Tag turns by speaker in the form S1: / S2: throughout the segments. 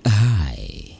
S1: Hi,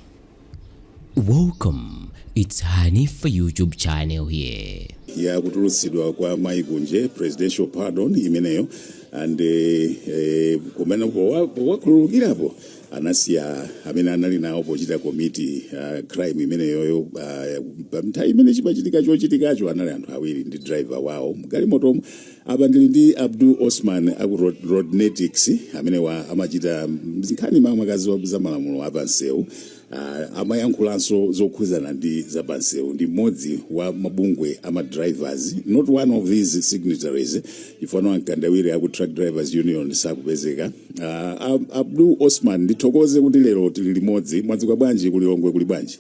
S1: welcome. It's Hanifa YouTube channel here. ya kutulutsidwa kwa mai kunje presidential pardon imeneyo and eh, eh, kumene powa- powakhululukirapo anasiya amene anali nawo pochita komiti uh, crime imeneyoyo uh, panthawi imene chimachitika chochitikacho anali anthu awiri ndi driver wawo mgalimotomo apa ndili ndi abdul osman aku Rod- rodnetics amenewa amachita nkhani makamaka za malamulo apansewu Ah, amayankhulanso zokhudzana ndi zapansewu ndi mmodzi wa mabungwe a ma drivers not one of these signatories chifukwa a mkandawire aku truck drivers union sakupezeka Ah, Ab- abdul osman ndithokoze kuti lero tili limodzi mwadzuka bwanji ku lilongwe kuli bwanji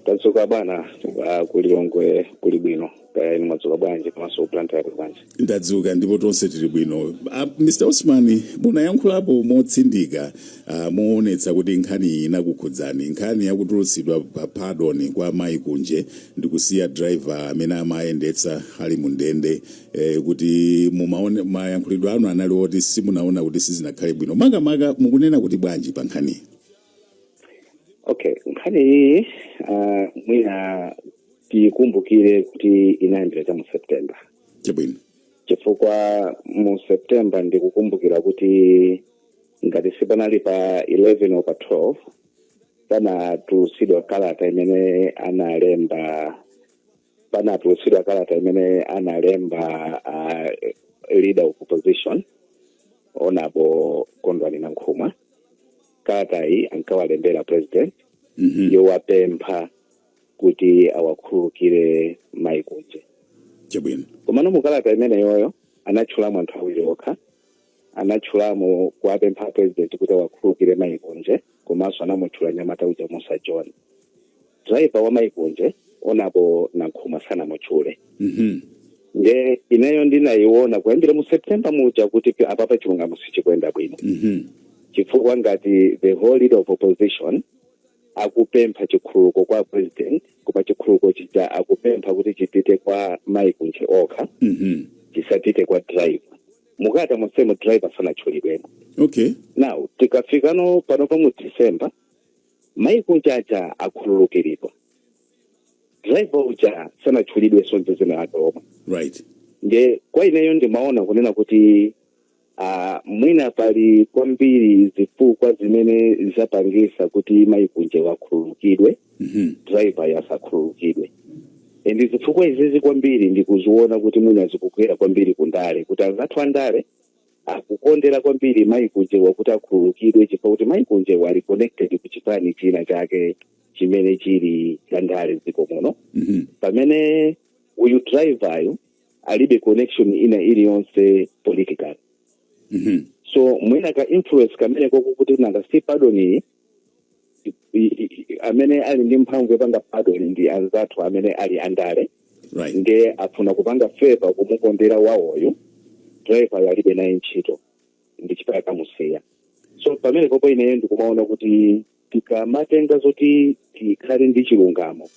S1: tadzuka bwino ah, ku lilongwe kuli bwino kaya inu mwadzuka bwanji komanso blantyre yako bwanji ndadzuka ndipo tonse tili bwino uh, mr osman munayankhulapo motsindika uh, moonetsa kuti nkhani iyi inakukhudzani nkhani yakutulutsidwa pa pardon kwa mayi kunje ndikusiya driver amene amayendetsa ali mu ndende eh, kuti mumaona mayankhulidwe anu anali oti simunaona kuti sizinakhale bwino makamaka mukunena kuti bwanji pa nkhaniyi okay nkhani iyi uh, mwina tiyikumbukire kuti inayambira cha mu september chabwino chifukwa mu september ndikukumbukira kuti ngati sipanali pa 11 or pa 12 panatulutsidwa kalata imene analemba panatulutsidwa kalata imene analemba uh, leader of opposition honourable kondwani nankhumwa kalata iyi ankawalembera president Mhm. yowapempha kuti awakhululukire mayi kunje chabwino komano mu kalata imeneyoyo anatchulamo anthu awiri okha anatchulamo kuwapempha apresident kuti awakhululukire mai kunje komanso anamutchula mnyamata uja mussa john driver wa mai kunje honourable nankhumwa sanamutchule Mhm. nde ineyo ndinayiona kuyambira mu september muja kuti pi- apapa chilungamo sichikuyenda bwino Mhm. chifukwa ngati the whole leader of opposition akupempha chikhululuko kwa president koma chikhululuko chija akupempha kuti chipite kwa mai kunje okha Mhm. chisapite kwa driver mukalata monsemo driver sanatchulidwemo okay now tikafika no panopa mu december mai kunje aja akhululukiridwa driver uja sanatchulidwenso dzina lake lomwe right nde kwa ineyo ndimaona kunena kuti uh, mwina pali kwambiri zifukwa zimene zapangisa kuti mai kunjewo akhululukidwe Mhm. driveryo asakhululukidwe and zifukwa izizi kwambiri ndikuziona kuti mwina zikugwera kwambiri kundale kuti anzathu andale akukondera kwambiri mayi kunjewa kuti akhululukidwe chifukwa kuti mayi kunjewa ali connected ku chipani china chake chimene chili cha ndale dziko muno Mhm. pamene uyu driveryo alibe connection ina iliyonse political Mhm. so mwina ka influence kamene kokuti nanga si pardon iyi i- i- i- amene ali ndi mphamvu yopanga pardon ndi anzathu amene ali andale right ndiye afuna kupanga favor kumukondera wawoyo driveryo alibe naye ntchito ndi chifukwa akumusiya so pamenepopo ineyo ndikumaona kuti tikamanena zoti tikhale ndi chilungamo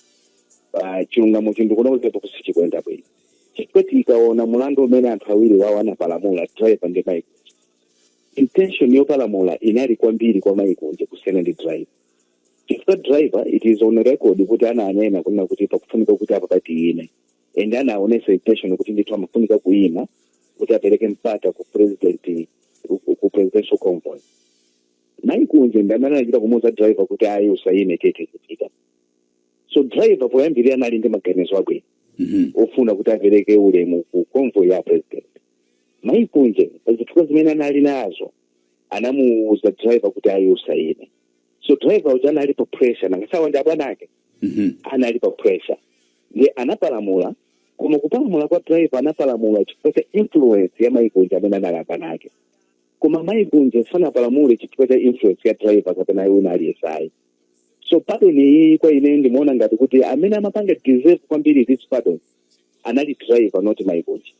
S1: pa chilungamo chinthu kunaozepo kuti sichikuyenda bwino chifukwa tikaona mulandu umene anthu awiri wawo anapalamula driver ndi mayi Intention yopalamula inali kwambiri kwa mayi Kunje kusiyana ndi driver. Chifukwa driver it is on record kuti ananena kunena kuti pakufunika kuti apapa tiyime. And anaonesa intention kuti ndithu amafunika kuyima kuti apereke mpata ku president ku- ku presidential convoy. Mayi Kunje ndi amene anachita kumuuza driver kuti ayi usayime tiye tizipita. So driver poyambirira anali ndi maganizo abwino Mhm. ofuna kuti apereke ulemu ku convoy ya president. mayi kunje pa zifukwa zimene anali nazo anamuuza driver kuti ayi usayime so driver uja anali pa pressure nanga si awa ndi abwana ake Mhm. anali pa pressure ndiye anapalamula koma kupalamula kwa driver anapalamula chifukwa cha influence ya mayi kunje amene anali abwana ake koma mayi kunje sanapalamule chifukwa cha influence ya driver kapena wina aliyense ayi so pardon iyi kwa ine ndimaona ngati kuti amene amapanga deserve kwambiri this pardon anali driver not mayi kunje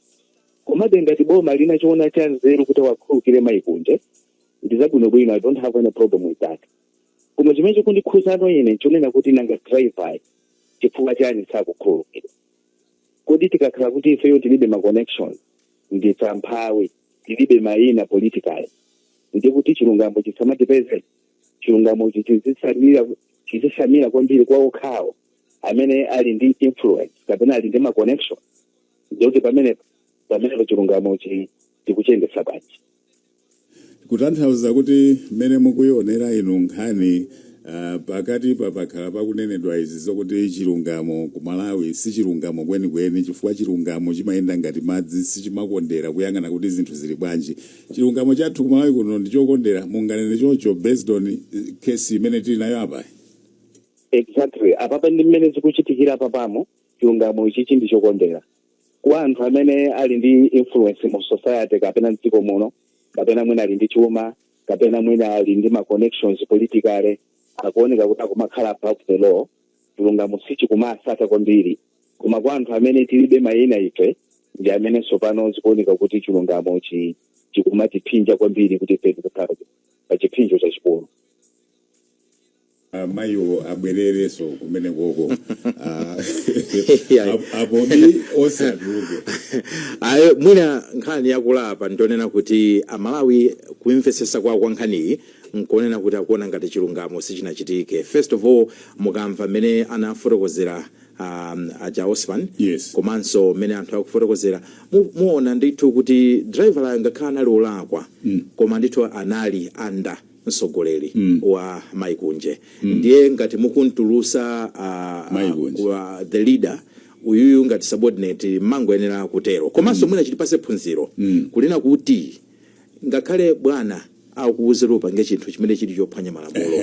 S1: komabe ngati boma linachiona cha nzeru kuti awakhululukire mayi kunje ndi zabwinobwino i don't have any problem with that koma chimene chikundikhuzano ine nchonena kuti nanga driver chifukwa chani sakumukhululukira kodi tikakhala kuti ifeyo tilibe ma connections ndife amphawi tilibe mayina politically ndi kuti chilungamo chisamatipeze chilungamo chizitsamira kwambiri kwa okhawo amene ali ndi influence kapena ali ndi ma connection ndikuti pamene pamenepo chilungamo chi tikuchiyendetsa bwanji kutanthauza kuti mmene mukuyionera inu nkhani ah, pakati pa pakhala pakunenedwa izi zokuti chilungamo ku malawi si chilungamo kwenikweni chifukwa chilungamo chimayenda ngati madzi sichimakondera kuyang'ana kuti zinthu zili bwanji chilungamo chathu ku malawi kuno ndi chokondera munganene chocho based on eh, case imene tili nayo apayi exactly apapa ndi mmene zikuchitikira papamo chilungamo ichichi ndi chokondera ku anthu amene ali ndi influence mu society kapena mdziko muno kapena mwina ali ndi chuma kapena mwina ali ndi ma connections politically akuoneka kuti akumakhala above the law chilungamo sichikumawasata kwambiri koma kwa anthu amene tilibe mayina ife ndi amene tsopano zikuoneka kuti chilungamo chi- chikumatiphinja kwambiri kuti ife tikukhala pa chiphinjo chachikulu Ah, mayiwo abwererenso kumenekoko Ah, Yeah. ap- apobe onse atuluke ayi mwina nkhani yakula apa ndionena kuti amalawi kumvetsetsa kwawo kwa nkhaniyi nkuonena kuti akuona ngati chilungamo sichinachitike first of all mukamva mmene anafotokozera um, aja osman Yes. komanso mmene anthu akufotokozera mu- muona ndithu kuti driver uyo ngakhale anali olakwa mm. koma ndithu anali anda msogoleli mm. wa maiko onse mm. ndiye ngati mukuntulusa uh, uh, the leader uyuyu ngati subordinate mumangoyenera kutero komanso mm. mwina chitipatse phunziro mm. kunena kuti ngakhale bwana akuuze kuti upange chinthu chimene chili chophwanya malamulo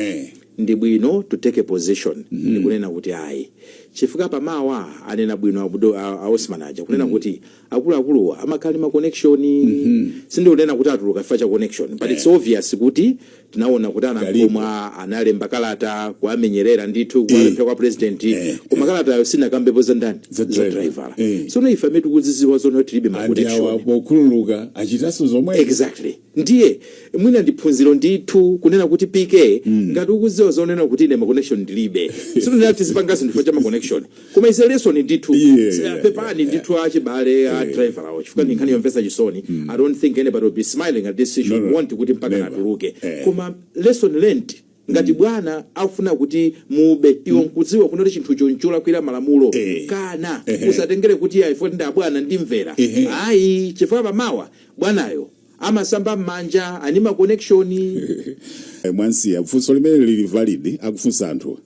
S1: ndi bwino to take a position mm -hmm. ndikunena kuti ayi chifukwa pamawa anena bwino a Osman aja kunena mm -hmm. kuti akuluakuluwa amakhala ndi ma connection mhm. sindikunena kuti atuluka chifukwa cha connection but it's eh. obvious kuti tinaona kuti anakhoma analemba kalata kuamenyerera ndithu eh. kuwapempha kwa president eh. koma kalatayo sinakambepo za ndani za driver sono ife amene tikuziziwa zono tilibe ma connection okhululuka achitanso zomwe exactly Ndiye mwina ndi phunziro ndithu kunena kuti PK, ngati ukuziwa zoonadi kuti ine ma connection ndilibe sikunena kuti tizipanga zinthu chifukwa cha ma connection koma it's a lesson ndithu Yeah. pepani ndithu achibale a driver awo chifukwa ndi nkhani yomvetsa chisoni I don't think anybody will be smiling at this issue No, no. want kuti mpaka Never. atuluke Eh. koma lesson learned Ngati bwana akufuna kuti mube iwo nkudziwa kunena kuti chinthucho ncholakwira malamulo Eh. kana Ehe. usatengere kuti ayi poti ndi abwana ndimvera Ehe. ayi chifukwa pamawa bwanayo amasamba m'manja ali ndi ma connection Eh, mwasiya funso limene lili valid akufunsa anthu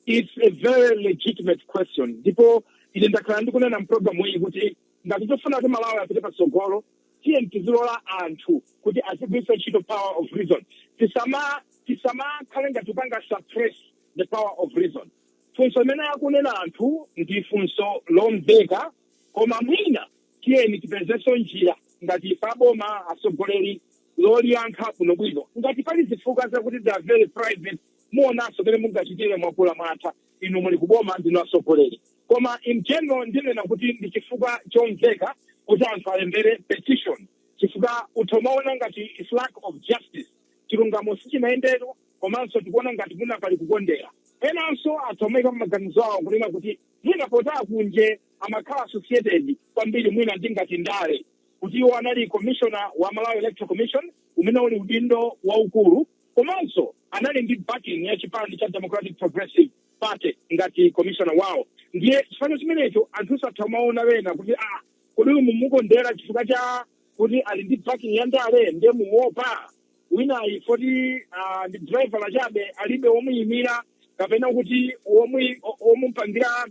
S1: it's a very legitimate question ndipo ine ndakhala ndikunena mpulogalamu iyi kuti ngati tikufuna kuti malawi apite patsogolo tiyeni tizilola anthu kuti azigwiritsa ntchito power of reason tisama tisamakhale ngati tikupanga suppress the power of reason funso limene akunena anthu ndi funso lomveka koma mwina tiyeni tipezenso njira ngati ife aboma atsogoleri loliyankha bwinobwino ngati pali zifukwa zakuti they are very private muonanso mmene mungachitire mwakula mwatha inu muli kuboma ndinu atsogoleri koma in general ndinena kuti ndi chifukwa chomveka kuti anthu alembere petition chifukwa anthu amaona ngati it's lack of justice chilungamo sichinayendepo komanso tikuona ngati mwina pali kukondera enanso atha kumaika maganizo awo kunena kuti mwina poti akunje amakhala associated kwambiri mwina ndi ngati ndale kuti iwo anali commissioner wa malawi electoral commission umene uli udindo waukulu komanso anali ndi backing ya chipani cha democratic progressive party ngati commissioner wawo ndiye chifukwa chimenecho anthu atha kumaona kunena kuti ah kodi uyu mumukondera chifukwa cha kuti ali ndi backing ya ndale ndiye muopa winayu poti ah, ndi driver wachabe alibe womuyimira kapena kuti womuyi- o- womupangira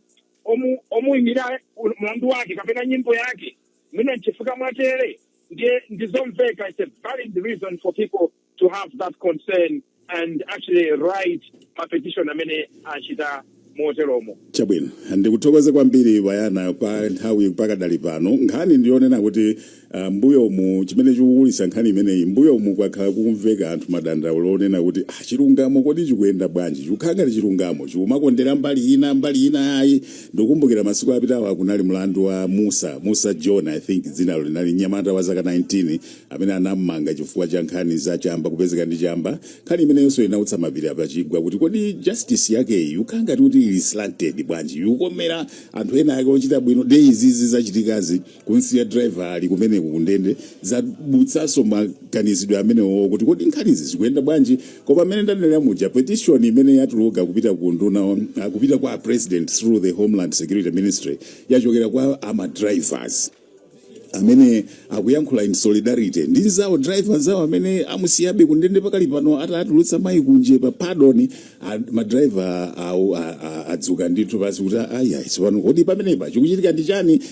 S1: omu- omuyimira u- mlandu wake kapena nyimbo yake mwina nchifukwa mwatere ndiye ndizomveka it's a valid reason for people to have that concern and actually write mapetition mmene achitira moteromo chabwino ndikuthokoze kwambiri bayana kwa nthawi pakadali pano nkhani ndiyonena kuti ah, mbuyomu chimene chikukulitsa nkhani imeneyi mbuyomu kwakhala kukumveka anthu madandaulo onena kuti ah, chilungamo kodi chikuyenda bwanji chikukhala ngati chilungamo chikumakondera mbali ina mbali ina ayi ndikukumbukira masiku apitawa kunali mlandu wa mussa mussa john i think dzinalo linali m'nyamata wa zaka 19 amene anam'manga chifukwa cha nkhani za chamba kupezeka ndi chamba nkhani imeneyonso inautsa mapiri pachigwa kuti kodi justice yakeyi ikukhala ngati kuti ili slanted bwanji ikukomera anthu ena ake ochita bwino nde izizi zachitikazi kumsiya driver ali kumeneko kundende zadzutsanso maganizidwe amenewo kuti kodi nkhanizi zikuyenda bwanji koma mmene ndanenera muja petition imene yatuluka kupita ku nduna uh, kupita kwa president through the homeland security ministry yachokera kwa ama drivers amene akuyankhula in solidarity ndi nzawo driver nzawo amene amusiyabe kundende pakali pano atatulutsa mayi kunje pa pardon madriverwo adzuka ndithu pansi kuti ayayi tsopano kodi pamenepa chikuchitika ndi chani